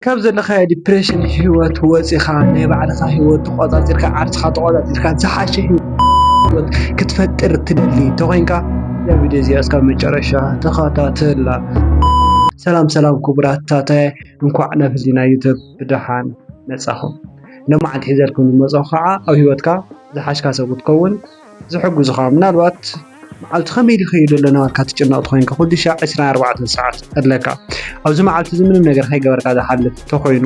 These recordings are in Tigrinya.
ካብ ዘለካዮ ዲፕሬሽን ሂወት ወፂእኻ ናይ ባዕልኻ ሂወት ተቆፃፂርካ ዓርስኻ ተቆፃፂርካ ዝሓሸ ሂወት ክትፈጥር እትደሊ እንተኮይንካ እዛ ቪድዮ እዚኣ እስካብ መጨረሻ ተከታተላ። ሰላም ሰላም ክቡራት ታታየ እንኳዕ ናብ ህሊና ዩቱብ ብደሓን መፃኹም። ሎማዓንቲ ሒዘልኩም ዝመፅኹ ከዓ ኣብ ሂወትካ ዝሓሽካ ሰብ ክትከውን ዝሕግዙኻ ምናልባት መዓልቲ ከመይ ድኸይዱ ኣሎ ናበልካ ትጭነቕ ተኾይንካ ኩሉ ሻዕ ዕስራን ኣርባዕተን ሰዓት ኣለካ ኣብዚ መዓልቲ እዚ ምንም ነገር ከይገበርካ ዝሓልፍ ተኾይኑ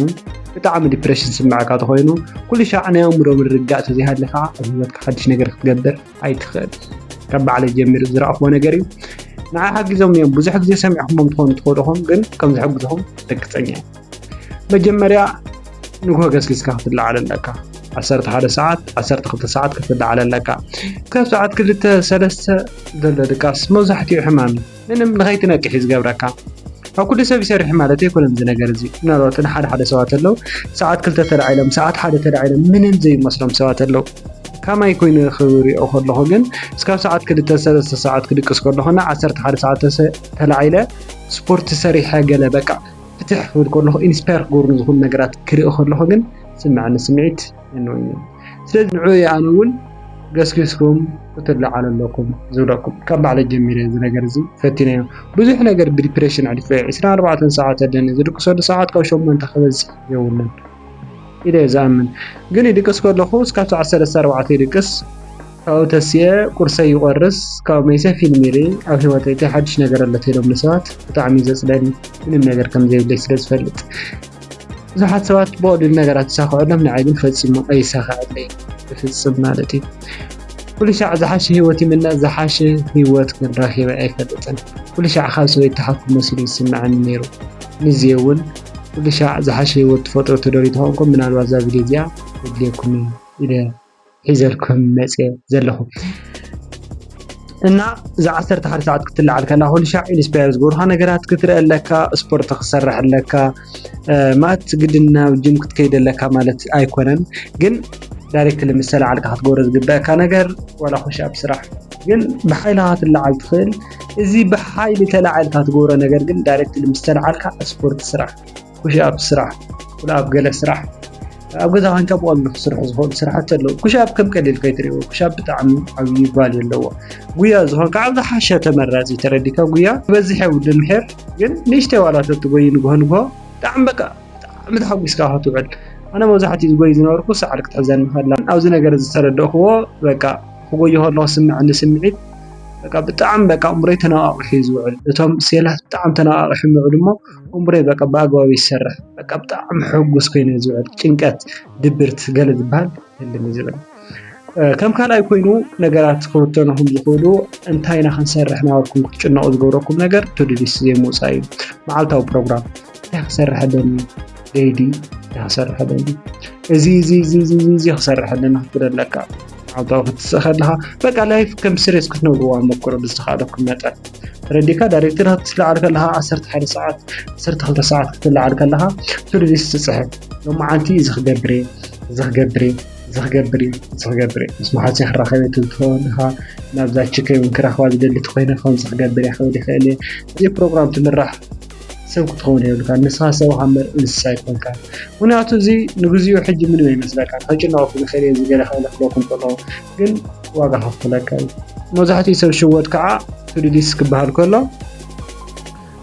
ብጣዕሚ ዲፕሬሽን ዝስምዐካ ተኾይኑ ኩሉ ሻዕ ናይ ኣእምሮ ምርግጋእ ተዘይሃልዩ ከዓ ኣብ ሂወትካ ሓድሽ ነገር ክትገብር ኣይትኽእል ካብ ባዕለይ ጀሚሩ ዝረኣኽዎ ነገር እዩ ንዓይ ሓጊዞም እዮም ብዙሕ ግዜ ሰሚዕኹሞም ትኾኑ ትኽእሉ ኢኹም ግን ከም ዝሕግዙኹም ርግፀኛ እየ መጀመርያ ንግሆ ገስጊስካ ክትለዓል ኣለካ ዓሰርተ ሓደ ሰዓት ዓሰርተ ክልተ ሰዓት ክትለዓል ኣለካ ክሳብ ሰዓት ክልተ ሰለስተ ዘሎ ድቃስ መብዛሕትኡ ሕማም ምንም ንኸይትነቅሕ እዩ ዝገብረካ ኣብ ኩሉ ሰብ ይሰርሕ ማለት ኣይኮነን እዚ ነገር እዚ ምናልባት ንሓደ ሓደ ሰባት ኣለዉ ሰዓት ክልተ ተላዒሎም ሰዓት ሓደ ተላዒሎም ምንም ዘይመስሎም ሰባት ኣለዉ ከማይ ኮይኑ ክሪኦ ከለኹ ግን እስካብ ሰዓት ክልተ ሰለስተ ሰዓት ክድቅስ ከለኹና ዓሰርተ ሓደ ሰዓት ተላዒለ ስፖርት ሰሪሐ ገለ በቃ ፍትሕ ክብል ከለኹ ኢንስፓየር ክገብሩኒ ዝኽእሉ ነገራት ክርኢ ከለኹ ግን ዝስመዐኒ ስምዒት ርንኡይ እዩ። ስለዚ ንዕኡ እየ ኣነ እውን ገስጊስኩም ክትለዓሉ ኣለኩም ዝብለኩም። ካብ ባዕለይ ጀሚረ እዚ ነገር እዚ ፈቲነዮ። ብዙሕ ነገር ብዲፕሬሽን ኣሕሊፈዮ። ዕስራን ኣርባዕተን ሰዓት ኣለኒ። ዝድቅሰሉ ሰዓት ካብ ሸሞንተ ክበዝሕ የብሉን። ኢለ እየ ዝኣምን ግን ይድቅስ ከለኩ እስካብ ሰዓት ሰለስተ ኣርባዕተ ይድቅስ ካብኡ ተሲኤ ቁርሰይ ይቆርስ ካብኡ መይሰ ፊልም ይርኢ ኣብ ሂወተይ እታይ ሓድሽ ነገር ኣሎ ተይሎምኒ ሰባት ብጣዕሚ እዩ ዘፅለኒ ምንም ነገር ከምዘይብለይ ስለ ዝፈልጥ ብዙሓት ሰባት ብቀሊሉ ነገራት ይሳክዐሎም ንዓይ ግን ፈፂሙ ኣይሳክዐለይን ብፍፅም ማለት እዩ ኩሉ ሻዕ ዝሓሸ ሂወት ይምነ ዝሓሸ ሂወት ግን ረኪበ ኣይፈልጥን ኩሉ ሻዕ ካብ ሰበይት ተሓኩ መሲሉ ይስምዐኒ ነይሩ ንዜ እውን ኩሉ ሻዕ ዝሓሸ ሂወት ትፈጥሩ ትደልዩ ተኮንኩም ምናልባት እዛ ቪድዮ እዚኣ ተድልየኩም ኢየ ኢለ ሒዘልኩም መጽየ ዘለኩ እና እዛ ዓሰርተ ሓደ ሰዓት ክትለዓል ከላ ኩሉ ሻዕ ኢንስፓየር ዝገብሩካ ነገራት ክትርኢ ኣለካ ስፖርት ክትሰርሕ ኣለካ ማለት ግድን ናብ ጅም ክትከይድ ኣለካ ማለት ኣይኮነን ግን ዳይሬክትሊ ምስ ተለዓልካ ክትገብሮ ዝግበአካ ነገር ዋላ ኩሻፕ ስራሕ ግን ብሓይልካ ክትለዓል ትኽእል እዚ ብሓይሊ ተላዒልካ ትገብሮ ነገር ግን ዳይሬክትሊ ምስ ተላዓልካ ስፖርት ስራሕ፣ ኩሽኣፕ ስራሕ፣ ኩልኣፕ ገለ ስራሕ፣ ኣብ ገዛ ኮንካ ብቐሊሉ ክስርሑ ዝኽእሉ ስራሕቲ ኣለዉ። ኩሽኣፕ ከም ቀሊል ከይትርእዮ፣ ኩሽኣፕ ብጣዕሚ ዓብዪ ቫልዩ ኣለዎ። ጉያ ዝኾንካ ኣብ ዝሓሸ ተመራጺ ተረዲእካ ጉያ ክበዝሕ የብሉን ምሒር ግን ንእሽተይ ዋላ ተትጎዪ ንግሆ ንግሆ ብጣዕሚ በቃ ብጣዕሚ ተሓጒስካ ኢኻ ትውዕል። ኣነ መብዛሕትኡ ዝጎዪ ዝነበርኩ ሳዕሪ ክትሕዘኒ ከላ ኣብዚ ነገር እዚ ዝተረዳእክዎ በቃ ክጎዪ ከለኹ ዝስመዐኒ ስምዒት በቃ ብጣዕሚ በቃ ኣእምሮይ ተነቓቒሑ እዩ ዝውዕል። እቶም ሴላት ብጣዕሚ ተነቓቒሖም ይውዕሉ እሞ ኣእምሮይ በቃ ብኣግባቡ ይሰርሕ። በቃ ብጣዕሚ ሕጉስ ኮይነ እየ ዝውዕል። ጭንቀት፣ ድብርት ገለ ዝበሃል ህልም እዩ ዝብለኒ። ከም ካልኣይ ኮይኑ ነገራት ክውተኑኹም ዝኽእሉ እንታይ ኢና ክንሰርሕ ናበልኩም ክትጭነቑ ዝገብረኩም ነገር ቱድሊስ ዘይምውፃእ እዩ መዓልታዊ ፕሮግራም እንታይ ክሰርሕ ኣለኒ ደይዲ እንታይ ክሰርሕ ኣለኒ እዚ እዚ እዚ እዚ ክሰርሕ ኣለኒ ክትብል ኣለካ መዓልታዊ ክትስእ ከለካ በቃ ላይፍ ከም ስሬስ ክትነብርዋ ሞክሮ ብዝተኻእለኩም መጠን ረዲካ ዳይሬክተር ክትልዓል ከለካ ዓሰርተ ሓደ ሰዓት ዓሰርተ ክልተ ሰዓት ክትልዓል ከለካ ቱድሊስ ትፅሕፍ ሎመዓንቲ እዚ ክገብር እየ እዚ ክገብር እየ እዚ ክገብር እየ እዚ ክገብር እየ ምስ መሓዙተይ ክራኸብ እየ ትብል ትኸውን ኢኻ ናብዛ ችከይ እውን ክረኽባ ዝደሊ ተኮይነ ከምዚ ክገብር እየ ክብል ይኽእል እየ እዚ ፕሮግራም ትምራሕ ሰብ ክትኸውን የብልካን ንስኻ ሰብ ሃምበር እንስሳ ኣይኮንካን ምክንያቱ እዚ ንግዚኡ ሕጂ ምንም ኣይመስለካ ከጭነቐኩም ይኽእል እየ እዚ ገለ ክእለ ክለኩም ከሎ ግን ዋጋ ከፍለካ እዩ መብዛሕትኡ ሰብ ሽወድ ከዓ ቱዱሊስ ክበሃል ከሎ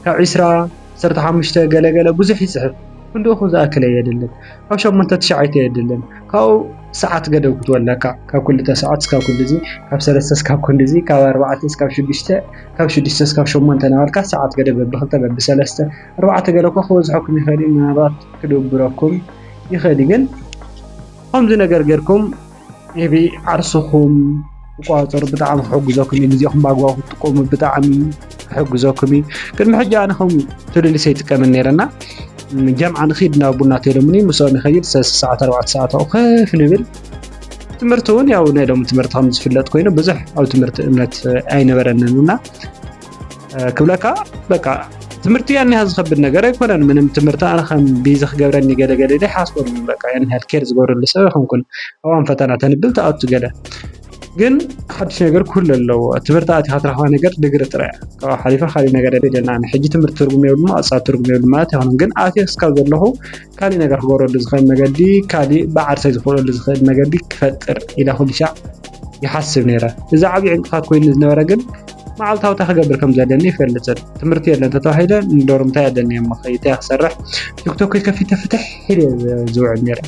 ካብ ዒስራ ዓሰርተ ሓሙሽተ ገለገለ ብዙሕ ይፅሕፍ ክንድኡ ዝኣክለ የድልን ካብ ሸሞንተ ትሽዓተ የድልን ካብኡ ሰዓት ገደብ ክትወለካ ካብ ክልተ ሰዓት እስካብ ክንድዚ ካብ ሰለስተ እስካብ ክንድዚ ካብ ኣርባዕተ እስካብ ሽዱሽተ ካብ ሽዱሽተ እስካብ ሸሞንተ እናበልካ ሰዓት ገደብ በብክልተ በብሰለስተ ኣርባዕተ ገለ እኮ ክበዝሐኩም ይኽእል እዩ ምናልባት ክድብረኩም ይኽእል እዩ ግን ከምዚ ነገር ጌርኩም ኤቢ ዓርስኹም ክቆጻጸሩ ብጣዕሚ ክሕግዘኩም እዩ ግዜኹም ብኣግባቡ ክትጥቀሙ ብጣዕሚ ክሕግዘኩም እዩ ቅድሚ ሕጂ ኣነ ከም ትልልሰ ይጥቀመን ነይረ እና ጀምዓ ንኺድ ናብ ቡና ተሎምኒ ምስኦም ይኸይድ ሰለስተ ሰዓት ኣርባዕተ ሰዓት ኣብኡ ከፍ ንብል ትምህርቲ እውን ያው ናይ ሎሚ ትምህርቲ ከም ዝፍለጥ ኮይኑ ብዙሕ ኣብ ትምህርቲ እምነት ኣይነበረንን እና ክብለካ በቃ ትምህርቲ ያን ያህል ዝከብድ ነገር ኣይኮነን ምንም ትምህርቲ ኣነ ከም ቢዚ ክገብረኒ ገለ ገለ ኢለ ይሓስበሉ በቃ ያን ያህል ኬር ዝገብረሉ ሰብ ኣይኮንኩን እዋን ፈተና ተንብል ተኣቱ ገለ ግን ሓድሽ ነገር ክህሉ ኣለዎ ትምህርቲ ኣቲካ ትረክባ ነገር ድግሪ ጥራይ ካብኡ ሓሊፋ ካሊእ ነገር የለና ሕጂ ትምህርቲ ትርጉም የብሉ ኣፃ ትርጉም የብሉ ማለት ኣይኮነን ግን ኣትየ እስካብ ዘለኹ ካሊእ ነገር ክገብረሉ ዝኽእል መገዲ ካሊእ ብዓርሰይ ዝኽእለሉ ዝኽእል መገዲ ክፈጥር ኢለ ኩሉ ሻዕ ይሓስብ ነይረ። እዚ ዓብዪ ዕንቅፋት ኮይኑ ዝነበረ ግን መዓልታዊ እንታይ ክገብር ከም ዘለኒ ይፈልጥን ትምህርቲ የለን እንተተባሂለ ንዶርምታይ ኣለኒ እሞ ከይታይ ክሰርሕ ቲክቶከይ ከፊተ ፍትሕ ኢለ ዝውዕል ነይረ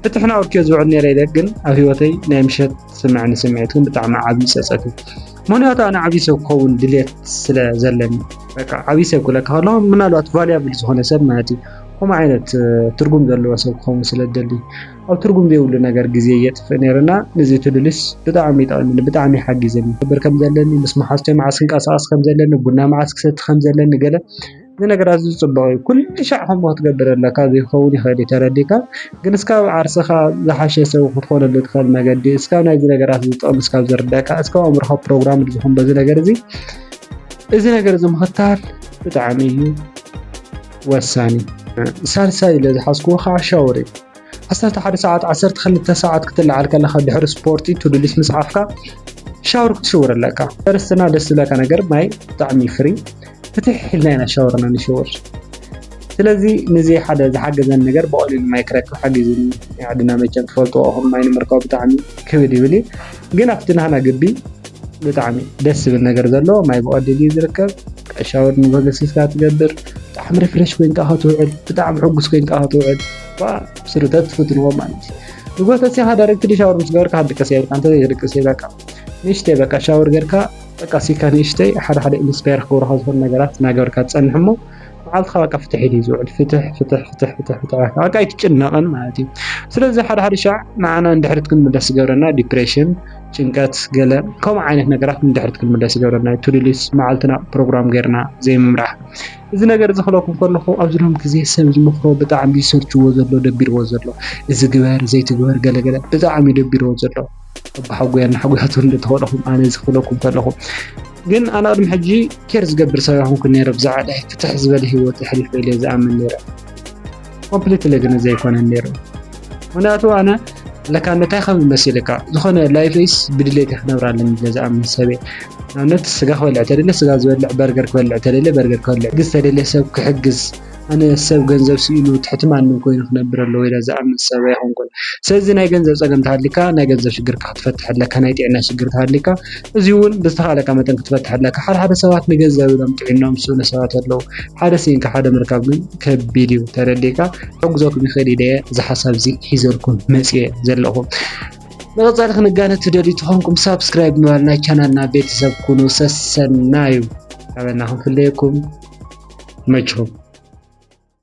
ፍትሕን ኣውርኪዮ ዝውዕል ነይረ ኢለ ግን ኣብ ሂወተይ ናይ ምሸት ስምዕኒ ስምዒት ግን ብጣዕሚ ዓብዪ ፀፀት እዩ ምክንያቱ ኣነ ዓብዪ ሰብ ክኸውን ድሌት ስለ ዘለኒ በቃ ዓብዪ ሰብ ክብለካ ከለኹ ምናልባት ቫልያብል ዝኾነ ሰብ ማለት እዩ ከምኡ ዓይነት ትርጉም ዘለዎ ሰብ ክኸውን ስለ ዝደሊ ኣብ ትርጉም ዘይብሉ ነገር ግዜ የጥፍእ ነይርና ነዚ ትልልስ ብጣዕሚ ይጠቕምኒ ብጣዕሚ ሓጊዘኒ ክብር ከም ዘለኒ ምስ መሓዝተይ መዓስ ክንቀሳቐስ ከም ዘለኒ ቡና መዓስ ክሰቲ ከም ዘለኒ ገለ እዚ ነገር ኣዝዩ ጽቡቕ እዩ። ኩሉ ሻዕ ከምኡ ክትገብር ኣለካ ዘይክኸውን ይኽእል እዩ ተረዲእካ ግን እስካብ ዓርስኻ ዝሓሸ ሰብ ክትኾነሉ ትኽእል መገዲ እስካብ ናይዚ ነገራት እዚ ጥቕሚ እስካብ ዝርድኣካ እስካብ ኣእምሮኻ ፕሮግራምድ ዝኹን በዚ ነገር እዚ እዚ ነገር እዚ ምኽታል ብጣዕሚ እዩ ወሳኒ። ሳልሳይ ኢለ ዝሓዝክዎ ከዓ ሻወር እዩ። ዓሰርተ ሓደ ሰዓት ዓሰርተ ክልተ ሰዓት ክትለዓል ከለኻ ድሕሪ ስፖርቲ ቱዱሊስ ምጽሓፍካ ሻወር ክትሽወር ኣለካ ፈርስትና ደስ ዝብለካ ነገር ማይ ብጣዕሚ ፍሪ ፍትሕ ኢልና ኢና ሻወርና ንሽወር ስለዚ ንዚ ሓደ ዝሓገዘን ነገር ብቐሊሉ ማይ ክረክብ ሓጊዙኒ ዓድና መቸም ትፈልጥዎ ኹም ማይ ንምርካቡ ብጣዕሚ ክብድ ይብል እዩ ግን ኣብቲ ናህና ግቢ ብጣዕሚ ደስ ዝብል ነገር ዘለዎ ማይ ብቐሊሉ እዩ ዝርከብ ሻወር ንበገሲስካ ትገብር ብጣዕሚ ሪፍሬሽ ኮይንካ ክትውዕል ብጣዕሚ ሕጉስ ኮይንካ ክትውዕል ስርተት ፍትንዎ ማለት እዩ ንጎ ተሲኻ ዳይሬክትሊ ሻወር ምስ ገበርካ ክንድቅስ የብልካ እንተዘይ ተድቅስ ይበቃ ንእሽተይ በቃ ሻወር ገርካ በቃ ሲካ ንእሽተይ ሓደ ሓደ ኢንስፓየር ክገብሩካ ዝኽእሉ ነገራት እናገበርካ ትጸንሕ እሞ መዓልትኻ በቃ ፍትሕ ኢሉ ዝውዕል ፍትሕ ፍትሕ ፍትሕ ፍትሕ ፍትሕ በቃ ኣይትጭነቕን ማለት እዩ ስለዚ ሓደ ሓደ ሻዕ ንዓና ንድሕሪት ክንምለስ ዝገብረና ዲፕሬሽን ጭንቀት ገለ ከምኡ ዓይነት ነገራት ንድሕሪት ክንምለስ ይገብረና እዩ ቱዱሊስ መዓልትና ፕሮግራም ገርና ዘይምምራሕ እዚ ነገር እዚ ክብለኩም ከለኩ ኣብዚ ሎሚ ግዜ ሰብ ዝመክሮ ብጣዕሚ ዝሰልችዎ ዘሎ ደቢርዎ ዘሎ እዚ ግበር ዘይትግበር ገለ ገለ ብጣዕሚ እዩ ደቢርዎ ዘሎ ኣቦሓጎይ ኣናሓጎታቱ እንተ ኮንኩም ኣነ እዚ ክብለኩም ከለኩ ግን ኣነ ቅድሚ ሕጂ ኬር ዝገብር ሰብ ኣይኮንኩን ነይረ ብዛዕባ ፍትሕ ዝበለ ሂወት የሕልፍ እየ ኢለ ዝኣምን ነይረ። ኮምፕሊትሊ ግን ዘይኮነን ነይሩ ምክንያቱ ኣነ ለካ እንታይ ከም መሲልካ ዝኾነ ላይፈይስ ብድሌት ክነብር ኣለኒ ኢለ ዝኣምን ሰብ እየ ንኣብነት ስጋ ክበልዕ ተደለ ስጋ ዝበልዕ በርገር ክበልዕ ተደለ በርገር ክበልዕ ግዝ ተደለ ሰብ ክሕግዝ ኣነ ሰብ ገንዘብ ስኢኑ ትሕቲ ማንም ኮይኑ ክነብር ኣለዎ ኢለ ዝኣምን ሰብ ኣይኮንኩን ስለዚ ናይ ገንዘብ ፀገም ተሃሊካ ናይ ገንዘብ ሽግርካ ክትፈትሕ ኣለካ ናይ ጥዕና ሽግር ተሃሊካ እዚ እውን ብዝተኻለካ መጠን ክትፈትሕ ኣለካ ሓደ ሓደ ሰባት ንገንዘብ ኢሎም ጥዒኖም ዝስእኑ ሰባት ኣለዉ ሓደ ስኢንካ ሓደ ምርካብ ግን ከቢድ እዩ ተረዲእካ ክሕግዘኩም ይኽእል ኢለ እዚ ሓሳብ እዚ ሒዘልኩም መፅየ ዘለኹ ንቐፃሊ ክንጋነ ትደልዩ ተኾንኩም ሳብስክራይብ ምባል ናይ ቻናልና ቤተሰብ ኩኑ ሰሰናዩ ኣበና ክንፍለየኩም መችኹም